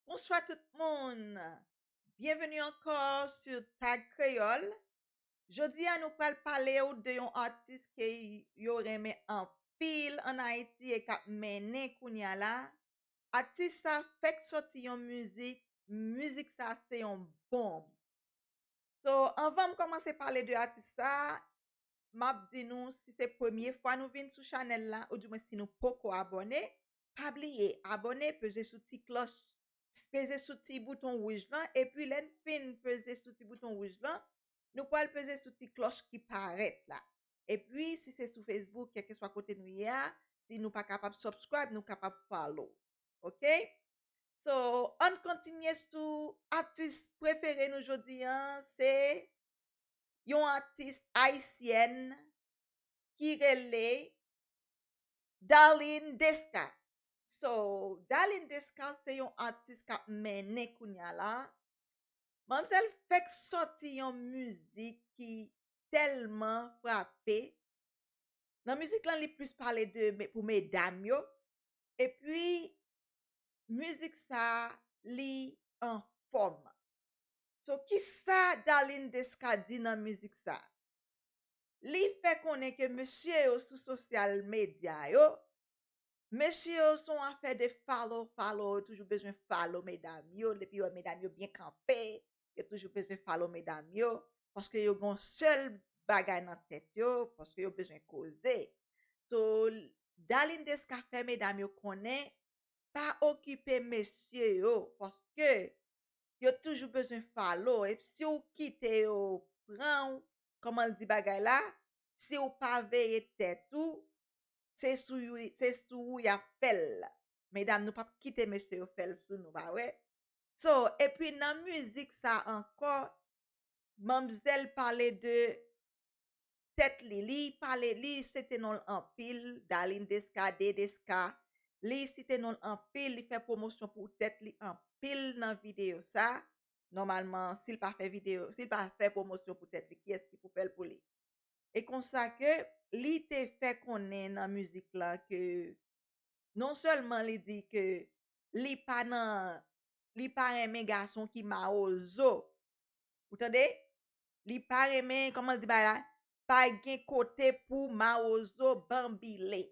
Bonswa tout moun! Byenveni ankò su Tag Kreyòl. Jodi a nou pral pale w de yon atis ke yo renmen anpil an Ayiti e k ap mennen kounye a la. Atis sa fèk sòti yon mizik, mizik sa se yon bonm. So, anvan m kòmanse pale de atis sa, m ap di nou si se premye fwa nou vin sou chanèl la, oudimwen si nou poko abòne, Pa bliye abone peze sou ti kloch peze sou ti bouton wouj lan epi lèn fin peze sou ti bouton wouj lan nou pwal peze sou ti kloch ki parèt la epi si se sou Facebook kèlkeswa kote nou ye a si nou pa kapab subscribe nou kapab follow ok so ann kontinye sou atis prefere nou jodi an se yon atis ayisyèn ki rele. Darline Desca So Darline Desca se yon atis k ap mennen kounya la. Manmzèl fèk sòti yon mizik ki tèlman frape. Nan mizik lan li plis pale de pou medam yo. Epi mizik sa li anfòm. So kisa Darline Desca di nan mizik sa? li fè konnen ke mesye yo sou sosyal medya yo, mesye yo se yon afè de follow follow, yo toujou bezwen follow medam yo, depi yo wè medam yo byen kanpe, yo toujou bezwen follow medam yo, paske yo gen yon sèl bagay nan tèt yo, paske yo bezwen koze. So, Darline Desca fè medam yo konnen, pa okipe mesye yo, paske yo toujou bezwen follow, e si w kite yo pran w, Koman l di bagay la, si w pa veye tèt ou, se sou you, se sou ou y ap fè l. Medam nou p ap kite mesye yo fè l sou nou pa wè. So, epi nan mizik sa ankò, manmzèl pale de tèt li, li pale, li sete non l anpil, Darline Desca, D. Desca, li site non l anpil, li fè pwomosyon pou tèt li anpil nan videyo sa. Nòmalman si l pa fè videyo, si l pa fè pwomosyon pou tèt li, kiyès ki pou fè l pou li? E konsa ke li te fè konnen nan mizik la ke non sèlman li di ke li pa nan, li pa renmen gason ki mawozo. Ou tande? Li pa renmen, kòman l di bagay la? Pa gen kote pou mawozo banbile.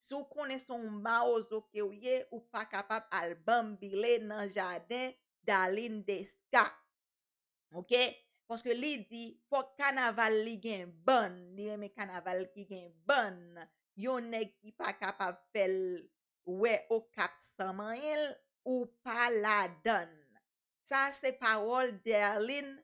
Si w konnen se yon mawozo ke w ye, ou pa kapab al banbile nan jaden Darline Desca. Ok? Paske li di, fòk kanaval li gen bann, li renmen kanaval ki gen bann. Yon nèg ki pa kapab fè l wè Okap san manyen l, ou pa ladann. Sa se pawòl Darline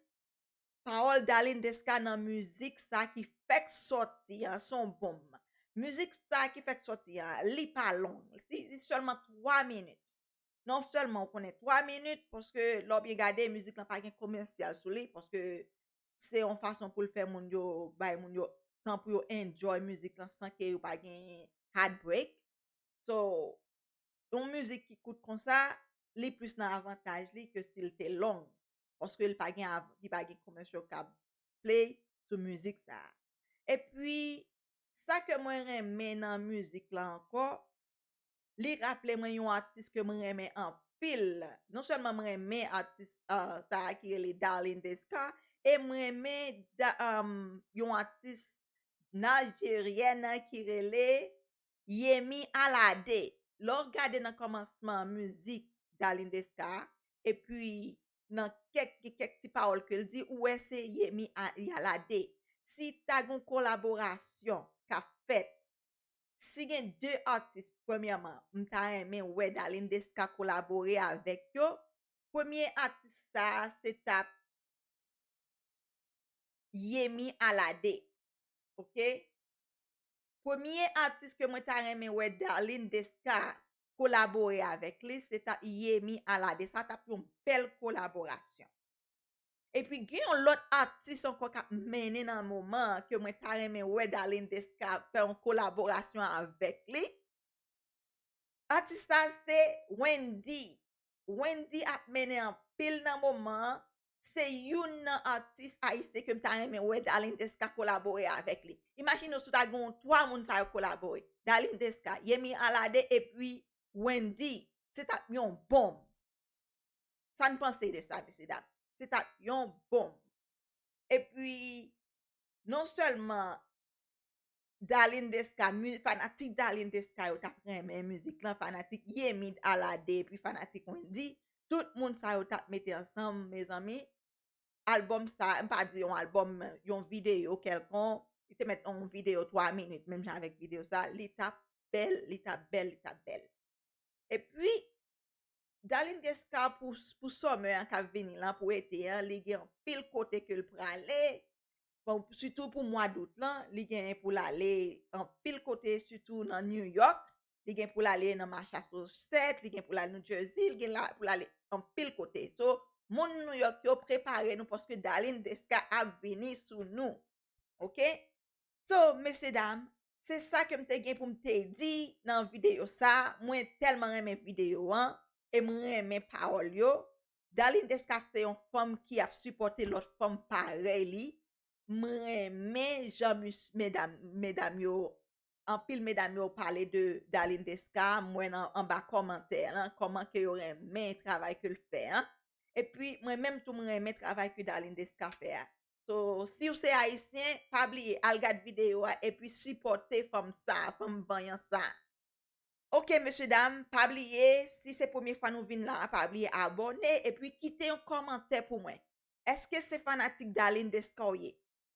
Pawòl Darline Desca nan mizik sa ki fèk sòti an se yon bonm. Mizik sa ki fèk sòti an, li pa long. Li sèlman 3 minit. Non sèlman ou konnen 3 minit paske lè w byen gade mizik lan pa gen komèsyal sou li paske se yon fason pou l fè moun yo bay moun yo tan pou yo enjoy mizik lan san ke yo pa gen heart break. So, yon mizik ki kout konsa, li plis nan avantaj li ke si l te long. paske li pa gen av li pa gen commercial kab play sou mizik sa epi sa ke mwen renmen nan mizik la ankò li raple mwen yon atis ke mwen renmen anpil non sèlman mwen renmen atis sa a ki rele Darline Desca e mwen renmen da yon atis Nigerian ki rele Yemy Alade lè w gade nan kòmansman mizik Darline Desca a epi nan kèk gen kèk ti pawòl ke l di ou wè se Yemy Alade si ta gen yon kolaborasyon k ap fèt si gen 2 atis premyèman m ta renmen wè Darline Desca kolabore avèk yo premye atis sa a se t ap Yemy Alade ok. Premye atis ke mwen ta renmen wè Darline Desca kolabore avèk li se ta Yemy Alade sa tap yon bèl kolaborasyon. Epi gen yon lòt atis ankò kap mennen nan moman an ke mwen ta renmen wè Darline Desca fè yon kolaborasyon avèk li, atis sa se Wendyy, Wendyy ap mennen anpil nan moman an se youn nan atis ayisyen ke m ta renmen wè Darline Desca kolabore avèk li. Imajine w si w ta gen yon 3 moun sa yo kolabore, Darline Desca, Yemi Alade epi Wendy, se t ap yon bonm. Sa n panse de sa mesye dam? Se t ap yon bonm. Epi non sèlman Darline Desca mu fanatik Darline Desca yo tap renmen mizik lan fanatik Yemi Alade epi fanatik Wendyy tout moun sa yo tap mete ansanm mezanmi album sa m pa di yon album men yon video kèlkon li te mèt yon video 3 minit menm jan avèk video sa li tap bèl li tap bèl li tap bèl epi Darline Desca pou pou summer an kap vini lan pou ete an li gen anpil kote ke l prale Bon, sitou pou mwa dout lan, li gen pou l ale anpil kote, sitou nan New York, li gen pou l ale nan Machasosèt, li gen pou l ale New Jersey, li gen pou l ale anpil kote. So, moun New York yo prepare nou paske Dalin Deska ap vini sou nou. Ok? So, mesye dam, se sa ke m te gen pou m te di nan videyo sa. Mwen tèlman renmen videyo an e m renmen pawòl yo. Darline Desca se yon fanm ki ap sipòte lòt fanm parèy li, m renmen jan mis medam medam yo anpil medam yo pale de Darline Desca m wè nan anba kòmantè lan kòman ke yo renmen travay ke l fè an epi mwen menm tou m renmen travay ke Darline Desca fè a so siw se ayisyen pa bliye al gad videyo a epi sipòte fanm sa a fanm vanyan sa a. Ok mesye dam pa bliye si se premye fwa nou vin la pa bliye abòne epi kite yon kòmantè pou mwen eske se fanatik Darline Desca ou ye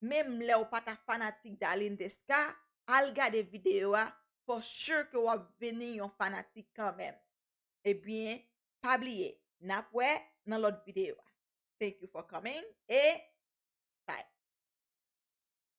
menm lèw pata fanatik Darline Desca al gade video a for sure ke wap vini yon fanatik kanmenm ebyen pa bliye nap wè nan lòt video thank you for coming e bye.